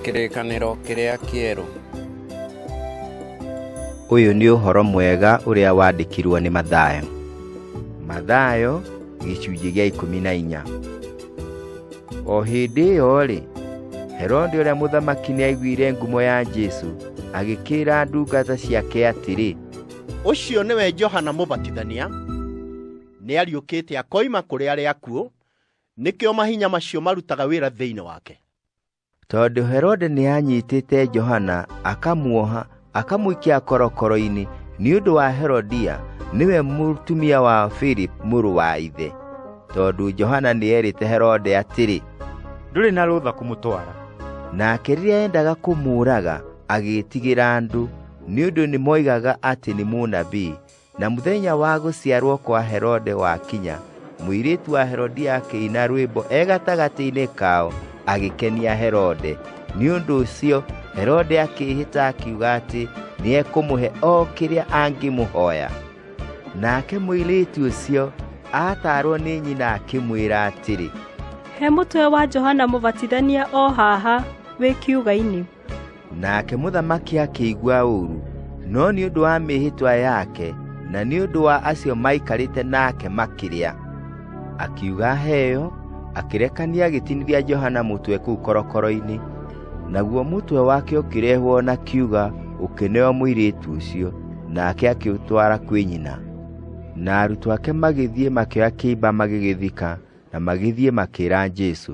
Kĩrĩkanĩro kĩrĩa kĩerũ. Ũyũ nĩ ũhoro mwega ũrĩa wandĩkirwo nĩ Mathayo. Mathayo gĩcunjĩ gĩa ikũmi na inya. O hĩndĩ ĩyo-rĩ, Herode ũrĩa mũthamaki nĩaiguire ngumo ya Jesu, agĩkĩra ndungata ciake atĩrĩ, Ũcio nĩwe Johana Mũbatithania, nĩariũkĩte akoima kũrĩ arĩa akuũ, nĩkĩo mahinya macio marutaga wĩra thĩinĩ wake tondũ herode nĩanyitĩte johana akamuoha akamũikia korokoro-inĩ nĩ ũndũ wa herodia nĩwe mũtumia wa philip mũrũ wa ithe tondũ johana nĩerĩte herode atĩrĩ ndũrĩ na rũtha kũmũtwara nake rĩrĩa endaga kũmũũraga agĩĩtigĩra andũ nĩ ũndũ nĩmoigaga atĩ nĩ mũnabii Na mũthenya wa gũciarwo kwa Herode wakinya, mũirĩtu wa Herodia akĩina rwĩmbo e gatagatĩ-inĩ kao, agĩkenia Herode. Nĩ ũndũ ũcio Herode akĩĩhĩta akiuga atĩ nĩekũmũhe o kĩrĩa angĩmũhoya. Nake mũirĩtu ũcio aataarwo nĩ nyina akĩmwĩra atĩrĩ, He mũtwe wa Johana Mũbatithania o haha wĩ kiuga-inĩ. nake mũthamaki akĩigua ũũru no nĩ ũndũ wa mĩĩhĩtwa yake na nĩ ũndũ wa acio maikarĩte nake makĩrĩa akiuga heyo akĩrekania agĩtinithia johana mũtwe kũu korokoro-inĩ naguo mũtwe wake ũkĩrehwo na kiuga ũkĩneo mũirĩtu ũcio nake akĩũtwara kwĩ nyina na arutwo ake magĩthiĩ makĩoya kĩimba magĩgĩthika na magĩthiĩ makĩra jesu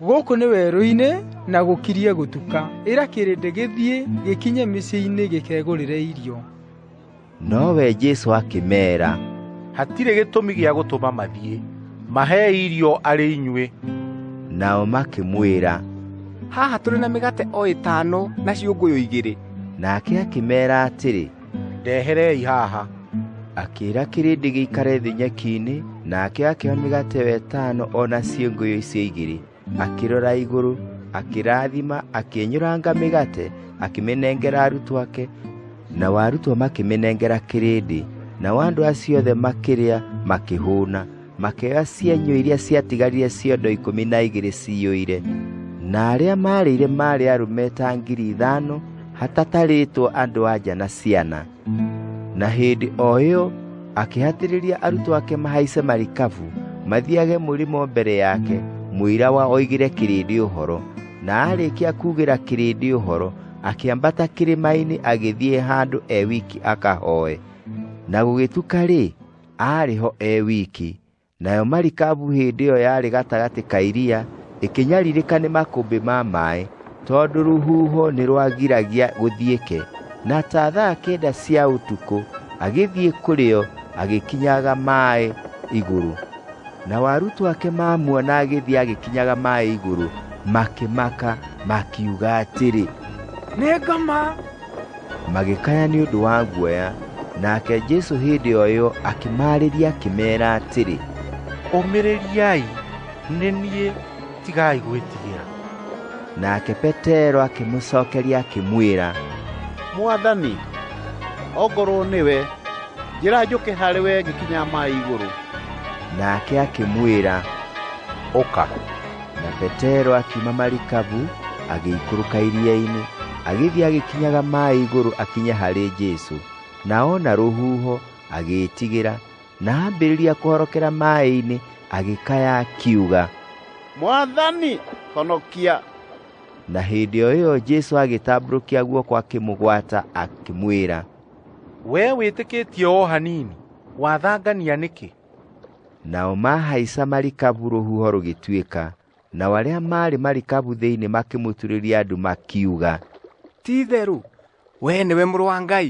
gũkũ nĩ werũ-inĩ na gũkirie gũtuka ĩra kĩrĩndĩ gĩthiĩ gĩkinye mĩciĩ-inĩ gĩkegũrĩre irio nowe jesu akĩmeera hatirĩ gĩtũmi gĩa gũtũma mathiĩ mahe irio arĩ inyuĩ nao makĩmwĩra haha tũrĩ na mĩgate o ĩtano na ciũngũyũ igĩrĩ nake akĩmeera atĩrĩ ndeherei haha akĩĩra kĩrĩndĩ gĩikare thĩ nyeki-inĩ nake akĩoya mĩgate wa ĩtano o na ciĩngũyũ icio igĩrĩ akĩrora igũrũ akĩrathima akĩnyũranga mĩgate akĩmĩnengera arutwo ake nao arutwo makĩmĩnengera kĩrĩndĩ nao andũ acio othe makĩrĩa makĩhũna makĩoya cienyũ iria ciatigarire ciondo ikũmi na igĩrĩ ciyũire na arĩa maarĩire maarĩ arũme ta ngiri ithano hatatarĩtwo andũ anja na ciana na hĩndĩ o ĩyo akĩhatĩrĩria arutwo ake mahaice marikabu mathiage mũrĩmo mbere yake mũira wa oigire kĩrĩndĩ ũhoro na arĩkia kugĩra kĩrĩndĩ ũhoro akĩambata kĩrĩma-inĩ agĩthiĩ handũ e wiki akahoe na gũgĩtuka rĩ aarĩ ho e wiki nayo marikabu hĩndĩ ĩyo yarĩ gatagatĩ ka iria ĩkĩnyarirĩka nĩ makũmbĩ ma maĩ tondũ rũhuho nĩ rwagiragia gũthiĩke na ta thaa kenda cia ũtukũ agĩthiĩ kũrĩo agĩkinyaga maĩ igũrũ na warutwo ake mamuona agĩthiĩ agĩkinyaga maĩ igũrũ makĩmaka makiuga atĩrĩ nĩ ngoma Magĩkaya nĩ ũndũ wa guoya, nake Jesu hĩndĩ o ĩyo akĩmaarĩria akĩmeera atĩrĩ, Ũmĩrĩriai, nĩ niĩ, tigai gwĩtigĩra. Nake Petero akĩmũcokeria akĩmwĩra, Mwathani, ongorwo nĩwe, njĩra njũke harĩ we ngĩkinya maĩ igũrũ. Nake akĩmwĩra, Ũka. na petero akiuma marikabu agĩikũrũka iria-inĩ agĩthiĩ agĩkinyaga maĩ igũrũ akinye harĩ jesu na ona rũhuho agĩĩtigĩra na ambĩrĩria kũhorokera maĩ-inĩ agĩkaya akiuga mwathani honokia na hĩndĩ o ĩyo jesu agĩtambũrũkia guoko akĩmũgwata akĩmwĩra wee wĩtĩkĩtie o hanini wathangania nĩkĩ Nao mahaica marikabu rũhuho rũgĩtuĩka, nao arĩa maarĩ marikabu thĩinĩ makĩmũturĩria andũ makiuga, Ti-itherũ, wee nĩwe mũrũ wa Ngai.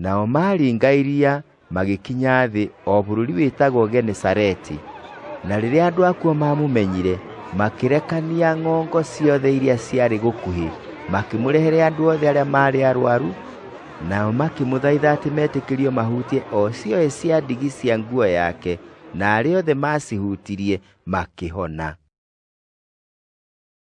Nao maringa iria magĩkinya thĩ o bũrũri wĩtagwo Genesareti. Na rĩrĩa andũ akuo mamũmenyire, makĩrekania ng'ongo ciothe iria ciarĩ gũkuhĩ, makĩmũrehere andũ othe arĩa maarĩ arwaru Nao makĩmũthaitha atĩ metĩkĩrio mahutie o cioĩ cia ndigi cia nguo yake, na arĩa othe maacihutirie makĩhona.